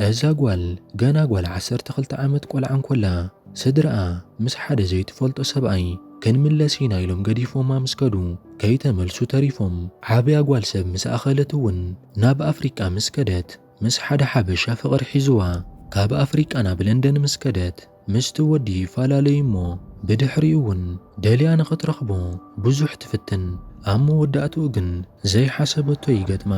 እዛ ጓል ገና ጓል ዓሰርተ ክልተ ዓመት ቆልዓ እንኮላ ስድርኣ ምስ ሓደ ዘይትፈልጦ ሰብኣይ ክንምለስ ኢና ኢሎም ገዲፎማ ምስ ከዱ ከይተመልሱ ተሪፎም። ዓብያ ጓል ሰብ ምስ ኣኸለት እውን ናብ ኣፍሪቃ ምስ ከደት ምስ ሓደ ሓበሻ ፍቕሪ ሒዙዋ። ካብ ኣፍሪቃ ናብ ለንደን ምስ ከደት ምስቲ ወዲ ይፈላለዩ እሞ ብድሕሪኡ እውን ደልያ ንኽትረኽቦ ብዙሕ ትፍትን። ኣብ መወዳእትኡ ግን ዘይሓሰበቶ ይገጥማ።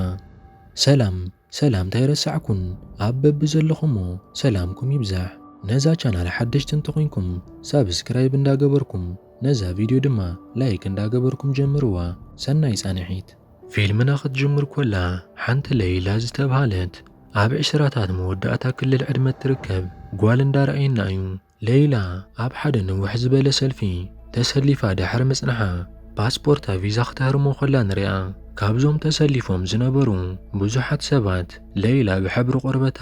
ሰላም! ሰላምታ ኣይረሳዕኩን ኣብ በብዘለኹሞ ሰላምኩም ይብዛሕ ነዛ ቻናል ሓደሽቲ እንተኾይንኩም ሳብስክራይብ እንዳገበርኩም ነዛ ቪድዮ ድማ ላይክ እንዳገበርኩም ጀምርዋ ሰናይ ፃንሒት። ፊልምና ክትጅምር ኮላ ሓንቲ ለይላ ዝተብሃለት ኣብ ዕስራታት መወዳእታ ክልል ዕድመ እትርከብ ጓል እንዳረኣየና እዩ ለይላ ኣብ ሓደ ንውሕ ዝበለ ሰልፊ ተሰሊፋ ድሕሪ ምጽንሓ ፓስፖርታ ቪዛ ክተህርሞ ከላ ንሪኣ። ካብዞም ተሰሊፎም ዝነበሩ ብዙሓት ሰባት ለይላ ብሕብሪ ቆርበታ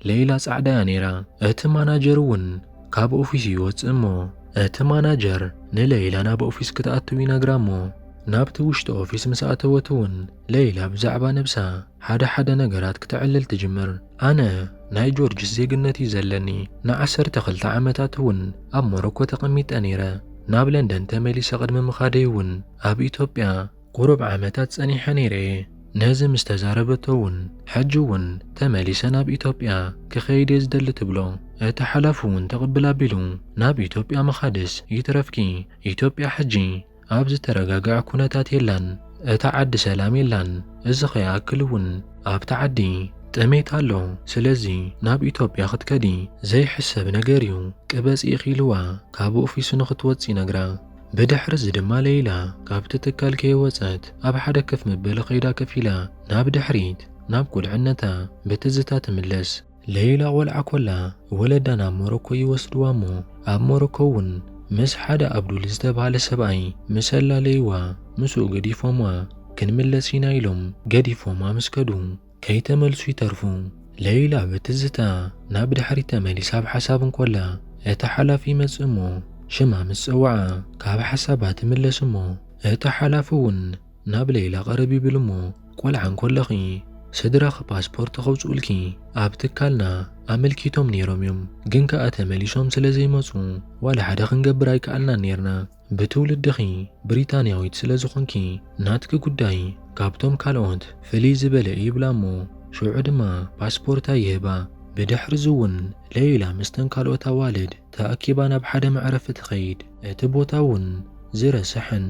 ለይላ ጻዕዳ እያ ነይራ። እቲ ማናጀር እውን ካብ ኦፊሱ ይወጽእ እሞ እቲ ማናጀር ንለይላ ናብ ኦፊስ ክትኣትው ይነግራ እሞ ናብቲ ውሽጢ ኦፊስ ምስ ኣተወት እውን ለይላ ብዛዕባ ነብሳ ሓደ ሓደ ነገራት ክተዕልል ትጅምር። ኣነ ናይ ጆርጅስ ዜግነት እዩ ዘለኒ። ንዓሰርተ ክልተ ዓመታት እውን ኣብ ሞሮኮ ተቐሚጠ ነይረ። ናብ ለንደን ተመሊሰ ቅድሚ ምኻደይ እውን ኣብ ኢትዮጵያ ቁሩብ ዓመታት ጸኒሐ ነይረ እየ። ነዚ ምስ ተዛረበቶ እውን ሕጂ እውን ተመሊሰ ናብ ኢትዮጵያ ክኸይድ እየ ዝደሊ ትብሎ። እቲ ሓላፊ እውን ትቕብል ኣቢሉ ናብ ኢትዮጵያ ምኻድስ ይትረፍኪ ኢትዮጵያ ሕጂ ኣብ ዝተረጋግዐ ኩነታት የላን እታ ዓዲ ሰላም የላን እዚ ከይኣክል እውን ኣብታ ዓዲ ጥሜት ኣሎ ስለዚ ናብ ኢትዮጵያ ክትከዲ ዘይሕሰብ ነገር እዩ ቅበጺ ኢኺ ኢልዋ ካብ ኦፊሱ ንኽትወጽእ ይነግራ ብድሕሪ እዚ ድማ ለይላ ካብቲ ትካል ከይወጸት ኣብ ሓደ ከፍ መበሊ ከይዳ ከፍ ኢላ ናብ ድሕሪት ናብ ቁልዕነታ ብትዝታ ትምለስ። ለይላ ቆልዓ ኮላ ወለዳ ናብ ሞሮኮ ይወስድዋ እሞ ኣብ ሞሮኮ እውን ምስ ሓደ ኣብዱል ዝተባህለ ሰብኣይ ምስ ኣላለይዋ ምስኡ ገዲፎምዋ ክንምለስ ኢና ኢሎም ገዲፎማ ምስ ከዱ ከይተመልሱ ይተርፉ። ለይላ ብትዝታ ናብ ድሕሪት ተመሊሳ ኣብ ሓሳብ እንኮላ እቲ ሓላፊ ይመጽእ እሞ ሽማ ምስ ጸውዓ ካብ ሓሳባ ትምለስ እሞ እቲ ሓላፊ እውን ናብ ለይላ ቀረብ ይብል እሞ ቆልዓ እንኮለኺ ስድራኺ ፓስፖርት ከውጽኡልኪ ኣብ ትካልና ኣመልኪቶም ነይሮም እዮም ግን ከኣ ተመሊሶም ስለ ዘይመጹ ዋላ ሓደ ክንገብር ኣይከኣልናን ነይርና ብትውልድኺ ብሪታንያዊት ስለ ዝኾንኪ ናትኪ ጉዳይ ካብቶም ካልኦት ፍልይ ዝበለ እዩ ይብላ እሞ ሽዑ ድማ ፓስፖርታ ይህባ ብድሕርዚ እውን ለይላ ምስተን ካልኦት ኣዋልድ ተኣኪባ ናብ ሓደ መዕረፊ ትኸይድ እቲ ቦታ እውን ዝረሰሐን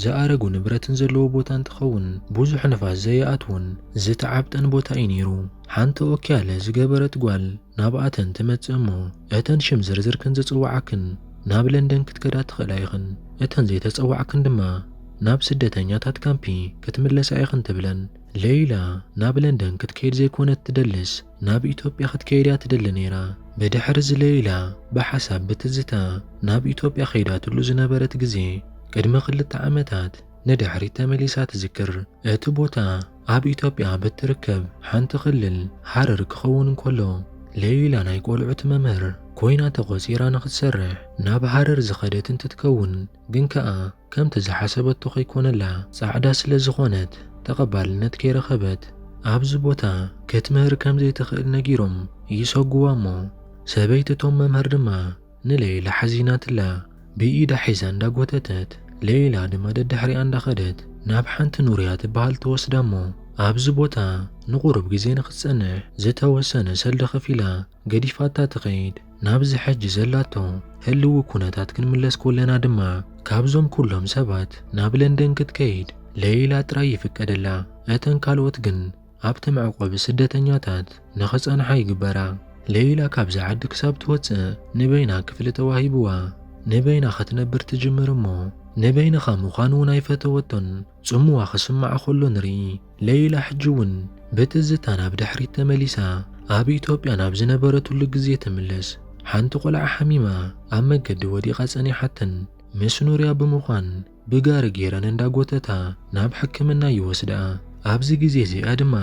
ዝኣረጉ ንብረትን ዘለዎ ቦታ እንትኸውን ብዙሕ ንፋስ ዘይኣትዎን ዝተዓብጠን ቦታ እዩ ነይሩ። ሓንቲ ኦኪያለ ዝገበረት ጓል ናብኣተን ትመፅእ እሞ እተን ሽም ዝርዝርክን ዝፅዋዓክን ናብ ለንደን ክትከዳ ትኽእላ ኢኽን እተን ዘይተፀዋዕክን ድማ ናብ ስደተኛታት ካምፒ ክትምለሳ ኢኽን ትብለን። ለይላ ናብ ለንደን ክትከይድ ዘይኮነት ትደልስ ናብ ኢትዮጵያ ክትከይድ እያ ትደሊ ነይራ። ብድሕሪ እዚ ለይላ ብሓሳብ ብትዝታ ናብ ኢትዮጵያ ከይዳትሉ ዝነበረት ግዜ ቅድሚ ክልተ ዓመታት ንድሕሪት ተመሊሳ ትዝክር። እቲ ቦታ ኣብ ኢትዮጵያ ኣብ እትርከብ ሓንቲ ክልል ሃረር ክኸውን እንከሎ፣ ለይላ ናይ ቆልዑት መምህር ኮይና ተቖጺራ ንኽትሰርሕ ናብ ሃረር ዝኸደት እንትትከውን ግን ከኣ፣ ከምቲ ዝሓሰበቶ ከይኮነላ ጻዕዳ ስለ ዝኾነት ተቐባልነት ከይረኸበት ኣብዚ ቦታ ክትምህር ከም ዘይትኽእል ነጊሮም ይሰጉዋ እሞ ሰበይቲ እቶም መምህር ድማ ንሌይላ ሓዚናትላ ብኢዳ ሒዛ እንዳጎተተት ሌይላ ድማ ደድሕሪኣ እንዳኸደት ናብ ሓንቲ ኑርያ ትበሃል ትወስዳ እሞ ኣብዚ ቦታ ንቑሩብ ግዜ ንክትጸንሕ ዝተወሰነ ሰልዲ ከፊላ ገዲፋታ ትኸይድ። ናብዚ ሕጂ ዘላቶ ህልዊ ኩነታት ክንምለስ ኮለና ድማ፣ ካብዞም ኩሎም ሰባት ናብ ለንደን ክትከይድ ለይላ ጥራይ ይፍቀደላ። እተን ካልኦት ግን ኣብቲ መዕቆቢ ስደተኛታት ንኽጸንሓ ይግበራ። ለይላ ካብዚ ዓዲ ክሳብ ትወጽእ ንበይና ክፍሊ ተዋሂብዋ ንበይና ክትነብር ትጅምር እሞ ንበይንኻ ምዃን እውን ኣይፈተወቶን። ጽምዋ ክስማዕ ከሎ ንርኢ። ለይላ ሕጂ'ውን ብትዝታ ናብ ድሕሪት ተመሊሳ ኣብ ኢትዮጵያ ናብ ዝነበረትሉ ግዜ ትምለስ። ሓንቲ ቆልዓ ሓሚማ ኣብ መገዲ ወዲቓ ጸኒሓተን። ምስ ኑርያ ብምዃን ብጋሪ ገይረን እንዳጎተታ ናብ ሕክምና ይወስድኣ። ኣብዚ ግዜ እዚኣ ድማ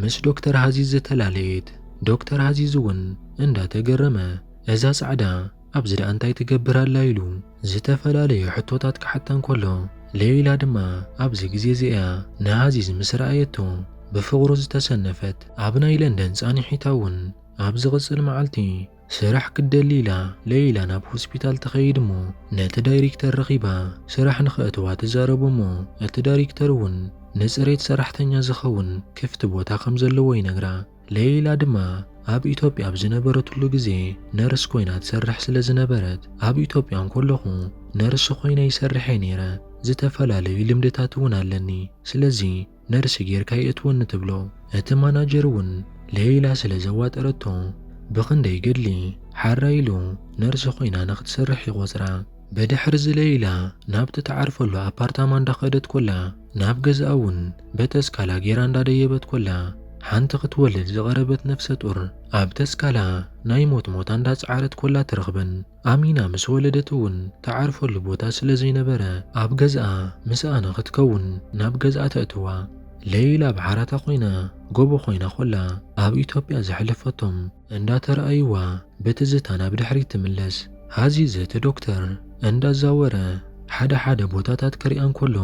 ምስ ዶክተር ሃዚዝ ተላለየት። ዶክተር ሃዚዝ'ውን እንዳተገረመ እዛ ጻዕዳ፣ ኣብዚ ደኣ እንታይ ትገብር ኣላ ኢሉ ዝተፈላለየ ሕቶታት ክሓታ እንከሎ፣ ለይላ ድማ ኣብዚ ግዜ እዚ እያ ንኣዚዝ ምስ ረኣየቶ ብፍቕሩ ዝተሰነፈት። ኣብ ናይ ለንደን ጻንሒታ እውን ኣብ ዝቕጽል መዓልቲ ስራሕ ክትደሊ ኢላ ለይላ ናብ ሆስፒታል ትኸይድ እሞ ነቲ ዳይሪክተር ረኺባ ስራሕ ንኸእትዋ ትዛረቦ እሞ እቲ ዳሪክተር እውን ንጽሬት ሰራሕተኛ ዝኸውን ክፍቲ ቦታ ከም ዘለዎ ይነግራ። ለይላ ድማ ኣብ ኢትዮጵያ ኣብ ዝነበረትሉ ግዜ ነርስ ኮይና ትሰርሕ ስለ ዝነበረት ኣብ ኢትዮጵያ እንኮለኹ ነርስ ኮይነ ይሰርሕ እየ ነይረ፣ ዝተፈላለዩ ልምድታት እውን ኣለኒ፣ ስለዚ ነርስ ጌርካ የእትወኒ ትብሎ። እቲ ማናጀር እውን ለይላ ስለ ዘዋጠረቶ ብኽንደይ ገድሊ ሓራይ ኢሉ ነርስ ኮይና ንኽትሰርሕ ይቖጽራ። ብድሕርዚ ለይላ ናብቲ ትዓርፈሉ ኣፓርታማ እንዳኸደት ኮላ ናብ ገዛኣ እውን በተስካላ ጌራ እንዳደየበት ኮላ ሓንቲ ክትወልድ ዝቐረበት ነፍሰ ጡር ኣብ ተስካላ ናይ ሞት ሞታ እንዳጸዓረት ኮላ ትረኽበን። ኣሚና ምስ ወለደት እውን ትዓርፈሉ ቦታ ስለ ዘይነበረ ኣብ ገዛኣ ምስኣ ንኽትከውን ናብ ገዛኣ ተእትዋ። ለይላ ብሓራታ ኮይና ጎቦ ኮይና ኮላ ኣብ ኢትዮጵያ ዘሕለፈቶም እንዳተራኣዩዋ ብትዝታ ናብ ድሕሪት ትምለስ። ሃዚዝ እቲ ዶክተር እንዳዛወረ ሓደ ሓደ ቦታታት ክሪኣ እንኮሎ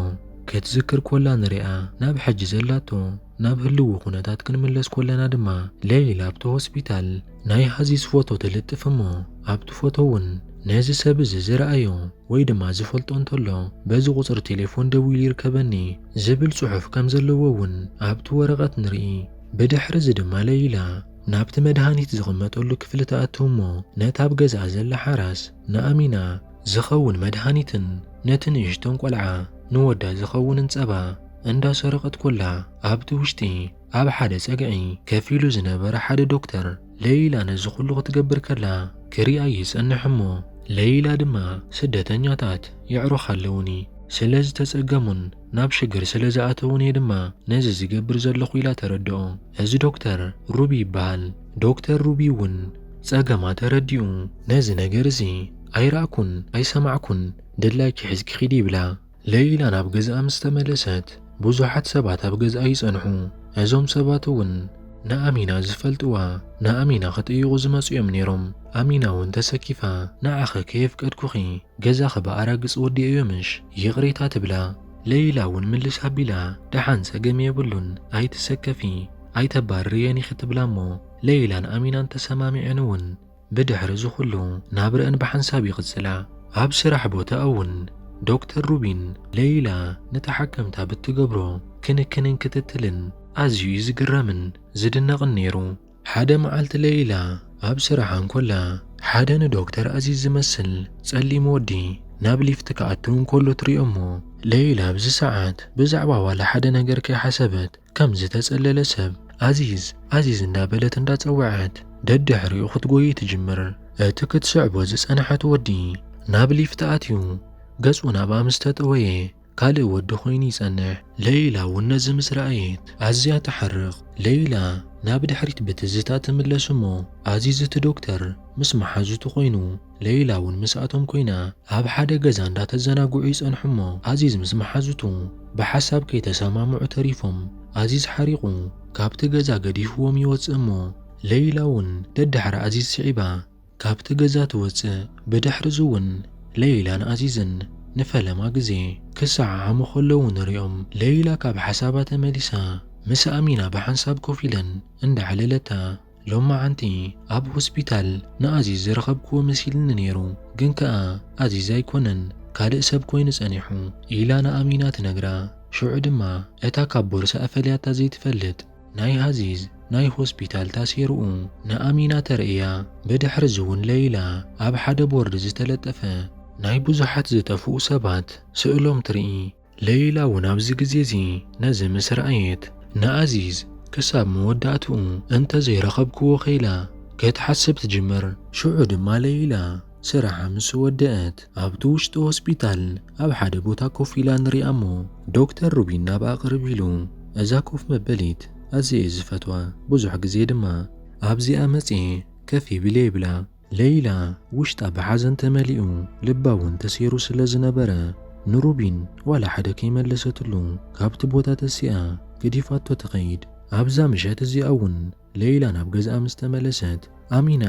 ክትዝክር ኮላ ንሪኣ ናብ ሕጂ ዘላቶ ናብ ህልዊ ኩነታት ክንምለስ ኮለና ድማ ለይል ኣብቲ ሆስፒታል ናይ ሃዚዝ ፎቶ ትልጥፍ እሞ ኣብቲ ፎቶ ውን ነዚ ሰብ እዚ ዝረኣዮ ወይ ድማ ዝፈልጦ እንተሎ በዚ ቁጽሪ ቴሌፎን ደዊሉ ይርከበኒ ዝብል ጽሑፍ ከምዘለዎ ውን ኣብቲ ወረቀት ንሪኢ ብድሕሪ እዚ ድማ ለይላ ናብቲ መድሃኒት ዝቕመጠሉ ክፍሊ ትኣቱ እሞ ነታ ኣብ ገዛኣ ዘላ ሓራስ ንኣሚና ዝኸውን መድሃኒትን ነቲ ንእሽቶን ቆልዓ ንወዳ ዝኸውንን ጸባ እንዳ ሰረቐት ኮላ ኣብቲ ውሽጢ ኣብ ሓደ ጸግዒ ከፍ ኢሉ ዝነበረ ሓደ ዶክተር ለይላ ነዚ ኩሉ ክትገብር ከላ ክሪኣ ይጸንሕ እሞ ለይላ ድማ ስደተኛታት የዕሩኽ ኣለዉኒ ስለ ዝተጸገሙን ናብ ሽግር ስለ ዝኣተዉን እየ ድማ ነዚ ዝገብር ዘለኹ ኢላ ተረድኦ። እዚ ዶክተር ሩቢ ይበሃል። ዶክተር ሩቢ እውን ጸገማ ተረዲኡ ነዚ ነገር እዚ ኣይረኣኩን ኣይሰማዕኩን ድላይኪ ሒዝኪ ኪዲ ይብላ። ለይላ ናብ ገዝኣ ምስ ተመለሰት ብዙሓት ሰባት ኣብ ገዝኣ ይጸንሑ። እዞም ሰባት እውን ንኣሚና ዝፈልጥዋ ንኣሚና ክጥይቁ ዝመጹ እዮም ነይሮም። ኣሚና እውን ተሰኪፋ ንዓኺ ከየፍቀድኩኺ ገዛኺ ብኣራግጽ ወዲኤዮ ምሽ ይቕሬታ ትብላ። ለይላ እውን ምልስ ኣቢላ ደሓን ጸገም የብሉን ኣይትሰከፊ ኣይተባርርየን ኢኺ ትብላ እሞ ለይላን ኣሚናን ተሰማሚዐን እውን ብድሕሪ እዚ ኩሉ ናብረአን ብሓንሳብ ይቕጽላ። ኣብ ስራሕ ቦታ እውን ዶክተር ሩቢን ለይላ ንተሓከምታ ብትገብሮ ክንክንን ክትትልን ኣዝዩ እዩ ዝግረምን ዝድነቕን ነይሩ። ሓደ መዓልቲ ለይላ ኣብ ስራሓ እንኮላ ሓደ ንዶክተር ኣዚዝ ዝመስል ጸሊም ወዲ ናብ ሊፍት ክኣቱ እንኮሎ ትሪኦ እሞ ለይላ ኣብዚ ሰዓት ብዛዕባ ዋላ ሓደ ነገር ከይሓሰበት ከም ዝተጸለለ ሰብ ኣዚዝ ኣዚዝ እንዳበለት እንዳጸወዐት ደድሕሪኡ ክትጎይ ትጅምር። እቲ ክትስዕቦ ዝጸንሐት ወዲ ናብ ሊፍት ኣትዩ ገጹ ናብኣ ምስ ተጠወየ ካልእ ወዲ ኮይኑ ይጸንሕ። ለይላ እውን ነዚ ምስ ረኣየት ኣዝያ ተሓርቕ። ለይላ ናብ ድሕሪት ብትዝታ ትምለስ እሞ ኣዚዝ እቲ ዶክተር ምስ መሓዙቱ ኮይኑ ለይላ እውን ምስኣቶም ኮይና ኣብ ሓደ ገዛ እንዳተዘናግዑ ይጸንሑ እሞ ኣዚዝ ምስ መሓዙቱ ብሓሳብ ከይተሰማምዑ ተሪፎም ኣዚዝ ሓሪቑ ካብቲ ገዛ ገዲፍዎም ይወጽእ እሞ ለይላ እውን ደድሕሪ ኣዚዝ ስዒባ ካብቲ ገዛ ትወጽእ፣ ብድሕርዚ'ውን ለይላን ኣዚዝን ንፈለማ ግዜ ክሰዓዓሙ ከለዉ ንርእዮም። ለይላ ካብ ሓሳባ ተመሊሳ ምስ ኣሚና ብሓንሳብ ኮፍ ኢለን እንዳዕለለታ፣ ሎማዓንቲ ኣብ ሆስፒታል ንኣዚዝ ዝረኸብክዎ መሲልኒ ነይሩ፣ ግን ከኣ ኣዚዝ ኣይኮነን ካልእ ሰብ ኮይኑ ጸኒሑ ኢላ ንኣሚና ትነግራ። ሽዑ ድማ እታ ካብ ቦርስኣ ፈልያታ ዘይትፈልጥ ናይ ኣዚዝ ናይ ሆስፒታል ታሴርኡ ንኣሚና ተርእያ። ብድሕርዚ'ውን ለይላ ኣብ ሓደ ቦርድ ዝተለጠፈ ናይ ብዙሓት ዝጠፍኡ ሰባት ስእሎም ትርኢ። ለይላ'ውን ኣብዚ ግዜ'ዚ ነዚ ምስ ረኣየት ንኣዚዝ ክሳብ መወዳእትኡ እንተዘይረኸብክዎኸ ኢላ ክትሓስብ ትጅምር። ሽዑ ድማ ለይላ። ስራሓ ምስ ወደኣት ኣብቲ ውሽጢ ሆስፒታል ኣብ ሓደ ቦታ ኮፍ ኢላ ንሪኣ እሞ ዶክተር ሩቢን ናብኣ ቅርብ ኢሉ እዛ ኮፍ መበሊት ኣዝየ እየ ዝፈትዋ ብዙሕ ግዜ ድማ ኣብዚኣ መፅየ ከፍ ይብል እየ ይብላ። ለይላ ውሽጣ ብሓዘን ተመሊኡ ልባ እውን ተሰይሩ ስለ ዝነበረ ንሩቢን ዋላ ሓደ ከይመለሰትሉ ካብቲ ቦታ ተሲኣ ገዲፋቶ ትኸይድ። ኣብዛ ምሸት እዚኣ እውን ለይላ ናብ ገዝኣ ምስ ተመለሰት ኣሚና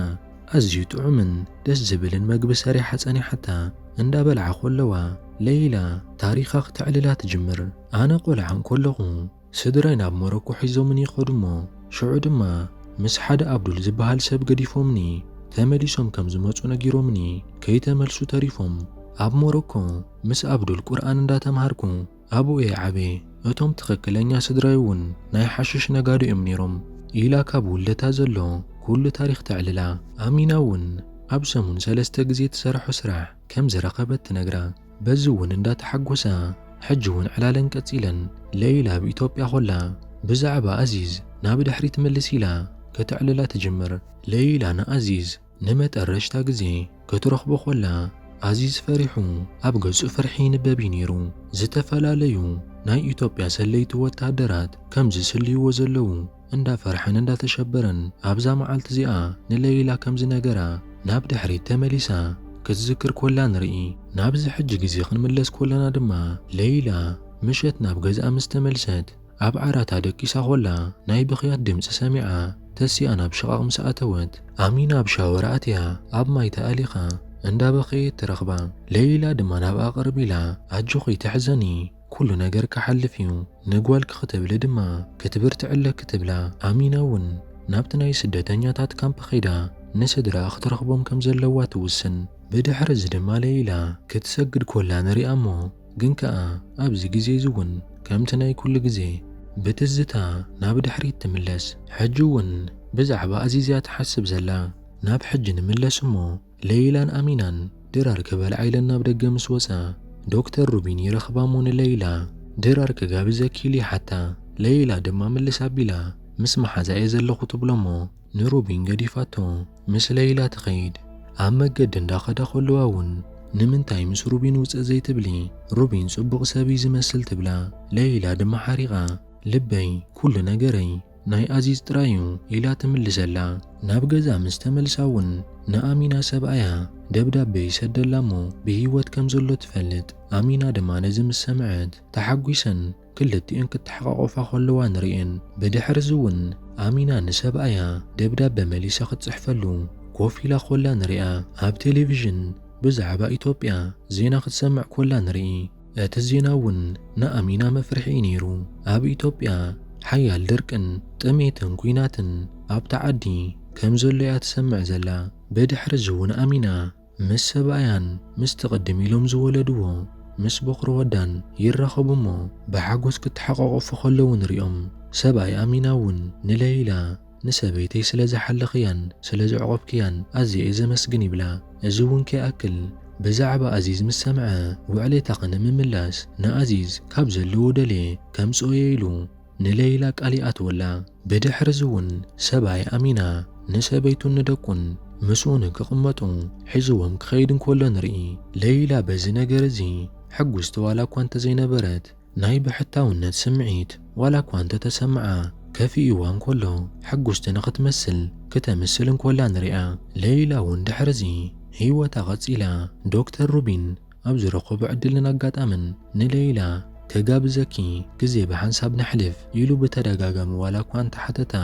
ኣዝዩ ጥዑምን ደስ ዝብልን መግቢ ሰሪሓ ጸኒሓታ። እንዳ በልዓ ኮለዋ ለይላ ታሪኻ ክተዕልላ ትጅምር። ኣነ ቆልዓ እንኮለኹ ስድራይ ናብ ሞሮኮ ሒዞምኒ ይኸዱ እሞ ሽዑ ድማ ምስ ሓደ ኣብዱል ዝበሃል ሰብ ገዲፎምኒ ተመሊሶም ከም ዝመጹ ነጊሮምኒ ከይተመልሱ ተሪፎም ኣብ ሞሮኮ ምስ ኣብዱል ቁርኣን እንዳ ተምሃርኩ ኣብኡ እየ ዓብየ፣ እቶም ትኽክለኛ ስድራይ እውን ናይ ሓሽሽ ነጋዶ እዮም ነይሮም ኢላ ካብ ውልደታ ዘሎ ኩሉ ታሪኽ ተዕልላ። ኣሚና እውን ኣብ ሰሙን ሰለስተ ግዜ ትሰርሖ ስራሕ ከም ዝረኸበት ትነግራ። በዚ እውን እንዳተሓጎሳ ሕጂ እውን ዕላለን ቀፂለን። ለይላ ኣብ ኢትዮጵያ ኮላ ብዛዕባ ኣዚዝ ናብ ድሕሪት ምልስ ኢላ ከተዕልላ ትጅምር። ለይላ ንኣዚዝ ንመጠረሽታ ግዜ ክትረኽቦ ኮላ ኣዚዝ ፈሪሑ ኣብ ገጹ ፍርሒ ይንበብ እዩ ነይሩ። ዝተፈላለዩ ናይ ኢትዮጵያ ሰለይቲ ወተሃደራት ከም ዝስልይዎ ዘለዉ እንዳፈርሐን እንዳተሸበረን ኣብዛ መዓልቲ እዚኣ ንለይላ ከም ዝነገራ ናብ ድሕሪት ተመሊሳ ክትዝክር ኮላ ንርኢ። ናብዚ ሕጂ ግዜ ክንምለስ ኮለና ድማ ለይላ ምሸት ናብ ገዝኣ ምስ ተመልሰት ኣብ ዓራታ ደቂሳ ኮላ ናይ ብኽያት ድምጺ ሰሚዓ ተሲኣ ናብ ሽቓቕ ምስ ኣተወት ኣሚና ኣብ ሻወር ኣትያ ኣብ ማይ ተኣሊኻ እንዳ በኸየት ትረኽባ። ለይላ ድማ ናብኣ ቅርብ ኢላ ኣጆኺ ኣይትሕዘኒ ኩሉ ነገር ክሓልፍ እዩ ንጓልኪ ክትብሊ ድማ ክትብርትዒ ኣለኪ ትብላ። ኣሚና እውን ናብቲ ናይ ስደተኛታት ካምፕ ከይዳ ንስድራኣ ክትረኽቦም ከም ዘለዋ ትውስን። ብድሕሪ እዚ ድማ ለይላ ክትሰግድ ኮላ ንሪኣ እሞ ግን ከኣ ኣብዚ ግዜ'ዚ እውን ከምቲ ናይ ኩሉ ግዜ ብትዝታ ናብ ድሕሪት ትምለስ። ሕጂ እውን ብዛዕባ ኣዚዝ'ያ ትሓስብ ዘላ። ናብ ሕጂ ንምለስ እሞ ለይላን ኣሚናን ድራር ክበልዓ ኢለን ናብ ደገ ምስ ወጻ ዶክተር ሩቢን ይረኽባ እሞ ንለይላ ድራር ክጋብዘኪ ኢሉ ይሓታ። ለይላ ድማ ምልስ ኣቢላ ምስ መሓዛ'የ ዘለኹ ትብሎ እሞ ንሩቢን ገዲፋቶ ምስ ለይላ ትኸይድ። ኣብ መገዲ እንዳኸዳ ከለዋ እውን ንምንታይ ምስ ሩቢን ውፅእ ዘይትብሊ ሩቢን ፅቡቕ ሰብ እዩ ዝመስል ትብላ። ለይላ ድማ ሓሪቓ ልበይ ኩሉ ነገረይ ናይ ኣዚዝ ጥራይ እዩ ኢላ ትምልሰላ። ናብ ገዛ ምስ ተመልሳ እውን ንኣሚና ሰብኣያ ደብዳቤ ይሰደላ እሞ ብህይወት ከም ዘሎ ትፈልጥ። ኣሚና ድማ ነዚ ምስ ሰምዐት ተሓጒሰን ክልቲኤን ክተሓቛቖፋ ከለዋ ንርእየን። ብድሕርዚ እውን ኣሚና ንሰብኣያ ደብዳበ መሊሳ ክትጽሕፈሉ ኮፍ ኢላ ኮላ ንርኣ። ኣብ ቴሌቪዥን ብዛዕባ ኢትዮጵያ ዜና ክትሰምዕ ኮላ ንርኢ። እቲ ዜና እውን ንኣሚና መፍርሒ እዩ ነይሩ። ኣብ ኢትዮጵያ ሓያል ድርቅን ጥሜትን ኲናትን ኣብታ ዓዲ ከም ዘሎ እያ ትሰምዕ ዘላ። ብድሕርዚ እውን ኣሚና ምስ ሰብኣያን ምስቲ ቅድም ኢሎም ዝወለድዎ ምስ ቦኽሪ ወዳን ይራኸቡ እሞ ብሓጎስ ክተሓቋቖፉ ከለዉ ንሪኦም። ሰብኣይ ኣሚና እውን ንለይላ ንሰበይተይ ስለ ዝሓለኽያን ስለ ዘዕቆብክያን ኣዝየ እየ ዘመስግን ይብላ። እዚ እውን ከይኣክል ብዛዕባ ኣዚዝ ምስ ሰምዐ ውዕሌታኺ ንምምላስ ንኣዚዝ ካብ ዘለዎ ደልየ ከምጽኦ እየ ኢሉ ንለይላ ቃል ይኣትወላ። ብድሕርዚውን ሰብኣይ ኣሚና ንሰበይቱን ንደቁን ምስኡን ክቕመጡ ሒዝዎም ክኸይድ እንከሎ ንርኢ። ለይላ በዚ ነገር እዚ ሕጉስቲ ዋላ እኳ እንተዘይነበረት፣ ናይ ብሕታውነት ስምዒት ዋላ እኳ እንተተሰምዓ፣ ከፊኡዋ እንከሎ ሕጉስቲ ንኽትመስል ክተምስል እንከላ ንሪኣ። ለይላውን ድሕርዚ ህይወታ ቀጺላ። ዶክተር ሩቢን ኣብ ዝረኸቦ ዕድልን ኣጋጣምን ንለይላ ክጋብዘኪ ግዜ ብሓንሳብ ነሕልፍ ኢሉ ብተደጋጋሚ ዋላኳ እንተሓተታ፣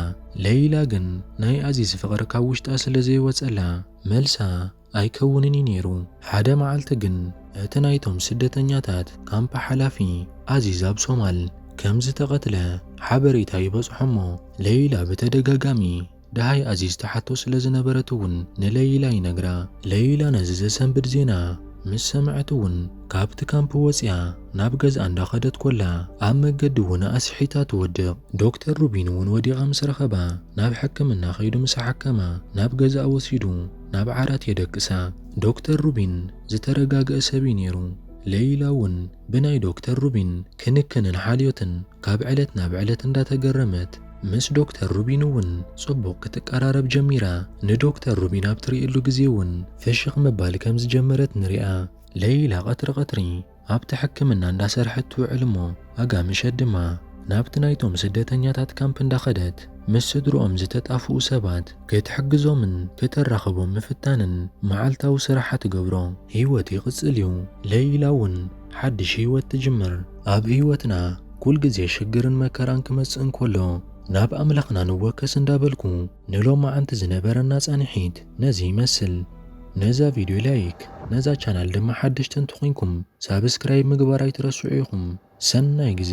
ለይላ ግን ናይ ኣዚዝ ፍቕሪ ካብ ውሽጣ ስለዘይወጸላ መልሳ ኣይከውንን እዩ ነይሩ። ሓደ መዓልቲ ግን እቲ ናይቶም ስደተኛታት ካምፕ ሓላፊ፣ ኣዚዝ ኣብ ሶማል ከምዝተቐትለ ሓበሬታ ይበጽሖ'ሞ ለይላ ብተደጋጋሚ ደሃይ ኣዚዝ ትሓቶ ስለ ዝነበረት'ውን ንለይላ ይነግራ። ለይላ ነዚ ዘሰንብድ ዜና ምስ ሰምዐት'ውን ካብቲ ካምፕ ወጺኣ ናብ ገዝኣ እንዳኸደት ኮላ ኣብ መገዲ'ውን ኣስሒታ ትወድቕ። ዶክተር ሩቢን'ውን ወዲቓ ምስ ረኸባ ናብ ሕክምና ከይዱ ምስ ኣሓከማ ናብ ገዝኣ ወሲዱ ናብ ዓራት የደቅሳ። ዶክተር ሩቢን ዝተረጋግኣ ሰብ'ዩ ነይሩ። ለይላ'ውን ብናይ ዶክተር ሩቢን ክንክንን ሓልዮትን ካብ ዕለት ናብ ዕለት እንዳተገረመት ምስ ዶክተር ሩቢን እውን ጽቡቕ ክትቀራረብ ጀሚራ። ንዶክተር ሩቢን ኣብ ትርእየሉ ግዜ እውን ፍሽኽ ምባል ከም ዝጀመረት ንርኣ። ለይላ ቀትሪ ቀትሪ ኣብቲ ሕክምና እንዳሰርሐት ትውዕል እሞ ኣጋ ምሸት ድማ ናብቲ ናይቶም ስደተኛታት ካምፕ እንዳኸደት ምስ ስድርኦም ዝተጣፍኡ ሰባት ክትሕግዞምን ክተራኽቦም ምፍታንን መዓልታዊ ስራሓ ትገብሮ። ህይወት ይቕጽል እዩ። ለይላ እውን ሓድሽ ህይወት ትጅምር። ኣብ ህይወትና ኩል ግዜ ሽግርን መከራን ክመጽእ እንኮሎ ናብ ኣምላኽና ንወከስ እንዳበልኩ ንሎማዓንቲ ዝነበረና ጻኒሒት ነዚ ይመስል። ነዛ ቪድዮ ላይክ ነዛ ቻናል ድማ ሓደሽቲ እንተኮንኩም ሳብስክራይብ ምግባር ኣይትረስዑ ኢኩም። ሰናይ ግዜ።